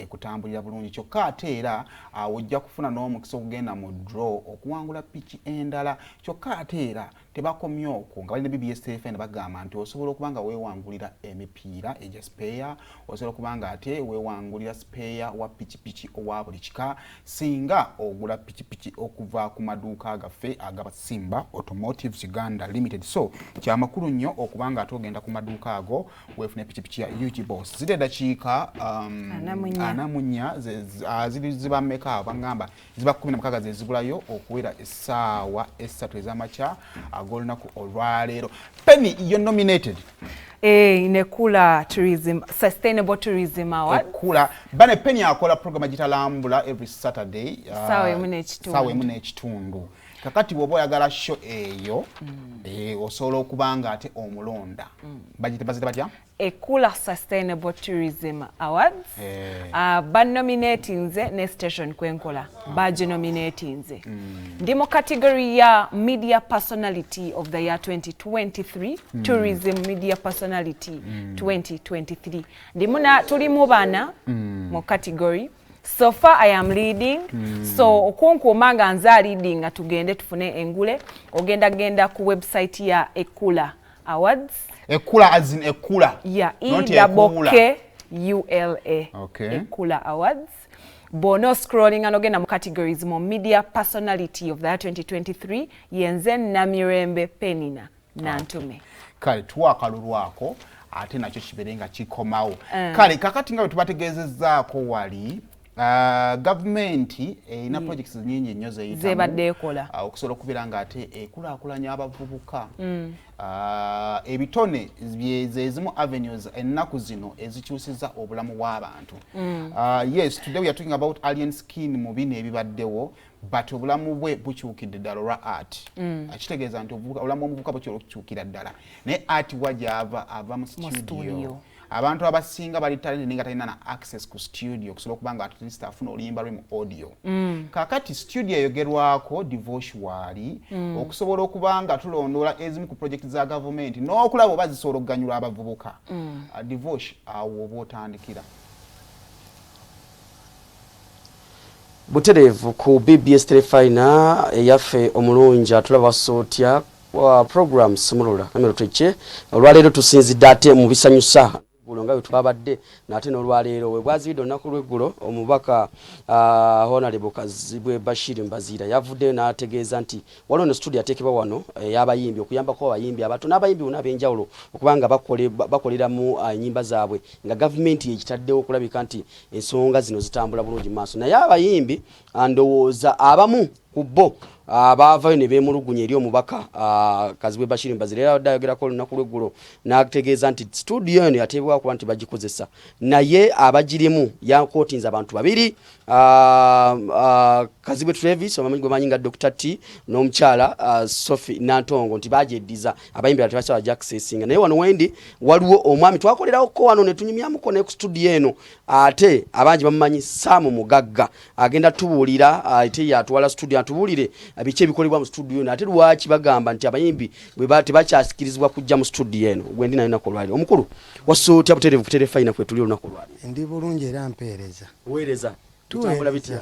ekutambulira bulungi kyokka ate era awo ojja kufuna n'omukisa okugenda mu draw okuwangula piki endala kyokka ate era tebakomye okwo nga balina bbsfn bagamba nti osobola okuba nga weewangulira emipiira egya sipeeya osobola okuba nga ate weewangulira sipeeya wa pikipiki owa buli kika singa ogula pikipiki okuva ku maduuka gaffe agabasimba automotives uganda limited so kyamakulu nnyo okuba nga ate ogenda ku maduuka ago wefune pikipiki ya UG Boss ziri eddakiika um, anamunya ah, ziri ziba meka bangamba ziba kumi na mukaaga zezibulayo okuwera essaawa essatu ez'amakya ag'olunaku olwaleero penny yo nominated eh, in Ekula Tourism, Sustainable Tourism Award. Ekula. Bane Penny akola program agitalambula every Saturday. Uh, sawa emu n'ekitundu. Sawa emu n'ekitundu. kakati bwoba oyagala sho eyo mm. eh, osobola okuba nga ate omulonda mm. bagite bazite batya ekula sustainable tourism awards eh. ah, banominatinze ne station kwenkola ah. baginominatinze mm. ndi mu category ya media personality of the year 2023 tourism media personality 2023 ndi muna tuli mu bana mu category so far i am leading mm. so okunkuuma nga nze aleading nga tugende tufune engule ogenda genda ku website ya ekula awards ekula as in ekula ya edaboke ula okay. ekula awards bwona oscrollinga nogenda mu categories mu media personality of the 2023 yenze namirembe penina nantume kale tuwa akalulu ako ate nakyo kibeere nga kikomawo eh. kale kakati nga bwe tubategeezezzaako wali Uh, gavumenti erina mm. projects nyingi nnyo zeyitazebadde ekola uh, okusobola okubeera nga ate ekulakulanya abavubuka mm. uh, ebitone zezimu avenues ennaku zino ezikyusiza obulamu bw'abantu mm. uh, yes today we are talking about alien skin mu bino ebibaddewo but obulamu bwe bukyukidde ddala olwa art mm. akitegeeza nti obulamu bwomuvuka bukyala okukyukira ddala naye art wa gyava ava mu studio abantu abasinga bali talent ninga talina na access ku studio okusobola okuba nga atleast afuna oluyimba lwe mu audio mm. kakati studio eyogerwako divorce waali mm. okusobola okuba nga tulondoola ezimu ku project za gavumenti n'okulaba oba zisobola okuganyula abavubuka mm. uh, divorce awo oba otandikira Butereevu ku BBS Terefayina eyaffe omulungi atulaba wassa otya program sumulula namero twekye olwaleero tusinzidde ate mu bisanyusa eggulo nga bwe twabadde naate n'olwaleero we bwazibidde olunaku lw'eggulo omubaka ah, honalebo kazibwe bashir mbaziira yavuddeyo n'ategeeza nti waliwo no situdio ateekebwa wano eyabayimbi eh, okuyambako abayimbi abato n'abayimbi bona ab'enjawulo okubanga bakolera mu ah, nyimba zaabwe nga gavumenti yekitaddewo okulabika nti ensonga zino zitambula bulungi maaso naye abayimbi ah, ndowooza abamu ku bo ah, baavayo ne beemulugunya eri omubaka ah, kazibwe bashiri mbazira era abadde ayogerako olunaku lweggulo n'ategeeza nti situdiyo eno yateebwa kuba nti bagikozesa naye abagirimu yakootinza abantu babiri kazibwe travis obamanyi gwemanyi nga dr t n'omukyala sophie nantongo nti bagyeddiza abayimbi balala tebasobola jakusesinga naye wano wendi waliwo omwami twakolerawoko wano netunyumyamuko ne ku studio eno ate abangi bamumanyi saamu mugagga agenda tubuulira ate yatwala studio atubuulire biki ebikolebwa mu studio eno ate lwaki bagamba nti abayimbi tebakyasikirizibwa kujja mu studio eno gwendi nayo naku olwaliro omukulu wassa otya buterevu kuterefayina kwetuli olunaku olwaliro ndi bulungi era mpeereza weereza tutambula bitya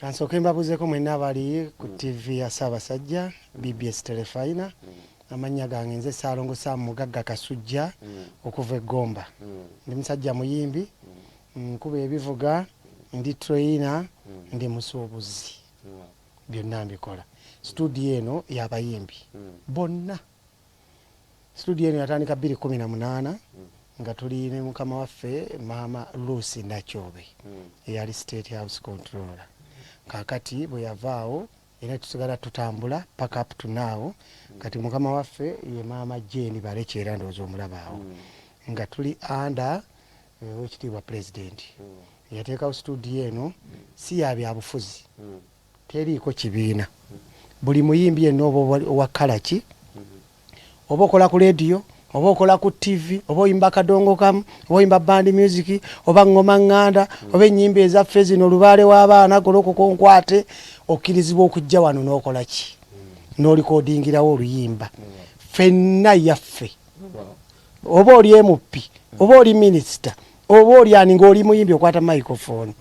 Kansooke mbabuuzeeko mwenna abali ku mm. ttivi ya Ssaabasajja mm. BBS Telefayina. Mm. Amannya gange nze Ssaalongo Sam Mugagga Kasujja okuva e Gomba. Ndi musajja muyimbi, nkuba ebivuga, ndi treyina, ndi musuubuzi. Byonna mbikola. Situdiyo eno y'abayimbi bonna. Situdiyo eno yatandika bbiri kkumi na munaana nga tuli ne mukama waffe maama Lucy Nakyobe eyali State House Controller. Kaakati bwe yavaawo era tusigala tutambula paka up to now. Kati mukama waffe ye maama Jane Balekye era ndowooza omulabaawo nga tuli under owekitiibwa pulezidenti eyateekawo situdiyo eno si ya byabufuzi Teriiko kibiina. Buli muyimbi yenna oba wa kkala ki, oba okola ku leediyo, oba okola ku ttivi, oba oyimba kadongo kamu, oba oyimba bandi myuziki, oba ŋŋoma ŋŋanda, oba ennyimba ezaffe zino, lubaale w'abaana, golokoka onkwate, okkirizibwa okujja wano n'okola ki? N'olikoodingirawo oluyimba. Ffenna yaffe. oba oli emuppi oba oli minisita oba oli ani ngaoli muyimbi okwata microphone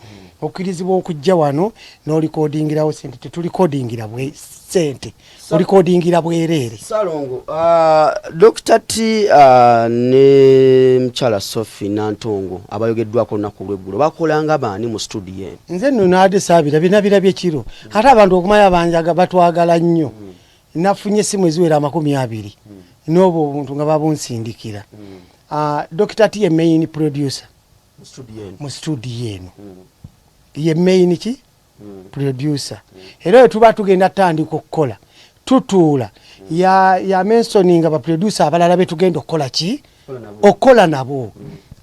okkirizibwa okujja wano nolikodingirawo sente tetulikodingira bwe sente olikodingira bwereere salongo uh, dokita t uh, ne mukyala sofi nantongo abayogeddwako olunaku lweggulo bakolanga baani mu studio eno nze nno naade saabira binabirabye kiro ate abantu okumaya banjaga batwagala nnyo mm. nafunye essimu eziwera amakumi abiri hmm. n'obwo obuntu nga babunsindikira hmm. ah, dokita ti ye main producer mu studio eno hmm. ye main ki producer era oyo tuba tugenda tutandika okukola tutuula yamensoninga baproducer abalala betugenda okukola ki okukola nabo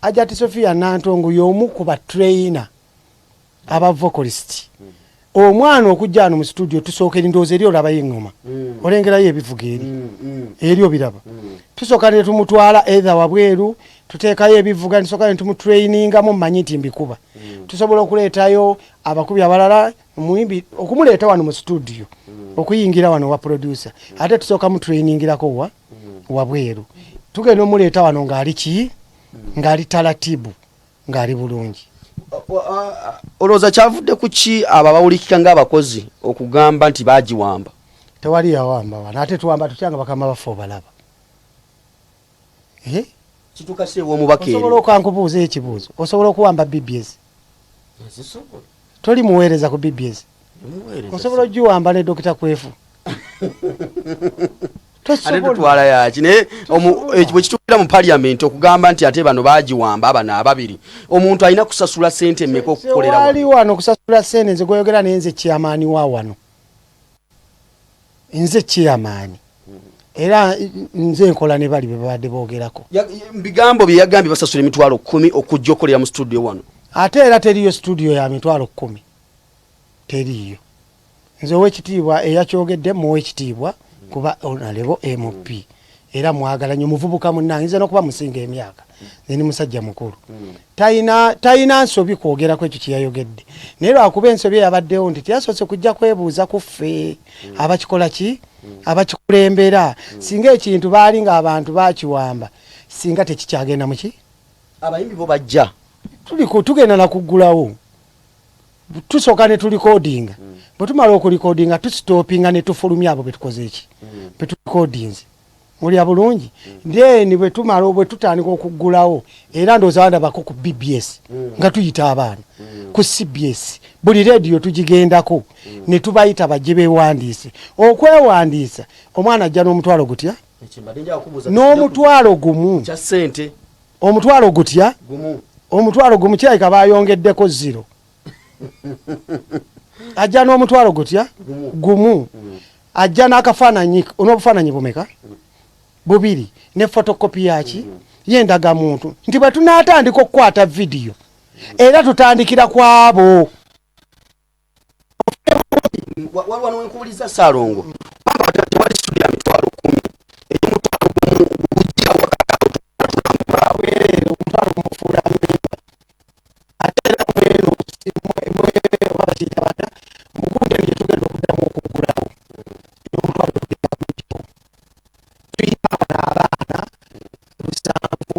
ajati sofia nantongo yomu ku batrainer aba vocalist omwana okujja ano mu studio tusooka erindoozi eri olabayo eŋŋoma mm. olengerayo ebivuga eri mm, mm. eri obiraba tusooka ne tumutwala etha wabweru tuteekayo ebivuga nsooka ne tumutrainingamu mmanyi nti mbikuba tusobola okuleetayo abakubi abalala muyimbi okumuleeta wano mu studio okuyingira wano wa producer ate tusooka mutrainingirako wa wabweru tugenda omuleeta wano ng'ali ki ng'ali talatibu ng'ali bulungi olowooza kyavudde ku ki abo abawulikika ng'abakozi okugamba nti baagiwamba tewali yawamba wano ate tuwamba tutya nga bakama baffe obalaba eh? osobola okankubuuza ekibuuzo osobola okuwamba bbs toli muweereza ku bbs osobola ogiwamba ne dokita kwefu twala yaki naye bwekituukira mu parliament okugamba nti ate bano bagiwamba bano ababiri omuntu alina kusasula sente meka okukoleraali wano okusasula sente nze gweyogera naye nze kyamaani wa wano nze kyamaani era nze nkola ne bali bebabadde boogerako bigambo bye yagambye basasula emitwalo kumi okujja okolera mu studio wano ate era teriyo studio ya mitwalo kumi teriiyo nze owekitiibwa eyakyogedde muwa ekitiibwa kuba onalebo mp era mwagala nyo muvubuka munange nze nokuba musinga emyaka nze ni musajja mukulu tayina tayina nsobi kwogera kwekyo kyeyayogedde naye lwakuba ensobi eyabaddewo nti teyasoose kujja kwebuuza ku ffe abakikola ki abakikulembera singa ekintu baali nga abantu bakiwamba singa tekikyagenda muki abayimbi bo bajja tugenda nakuggulawo tusooka ne tulikodinga mm. bwe tumala okulikodinga tusitopinga ne tufulumya abo betukoze eki mm. betulikodinze mulya bulungi mm. then bwe tumala bwe tutandika okuggulawo era ndowooza bandabako ku bbs nga tuyita abaana ku cbs buli rediyo tugigendako ne tubayita bajje bewandiise okwewandiisa omwana ajja n'omutwalo gutya n'omutwalo gumu omutwalo gutya omutwalo gumu kirabika bayongeddeko ziro ajja n'omutwalo gutya gumu mm. ajja n'akafaananyi n'obufaananyi bumeka mm. bubiri ne fotokopi yaki mm. yendaga muntu nti bwe tunaatandika okukwata vidiyo era tutandikira kwabo waliwo nwenkubuliza saalongo tewali sudi ya mitwalo kumi eyomutwalo gumu gujja wakatulambulawereere omutwalo gumufuula mimba ate era mweno bakiyita bata mugunde nje tugenda okuddamu okugulawo omutwalo gugenda kujjawo tuyina abana abaana lusanvu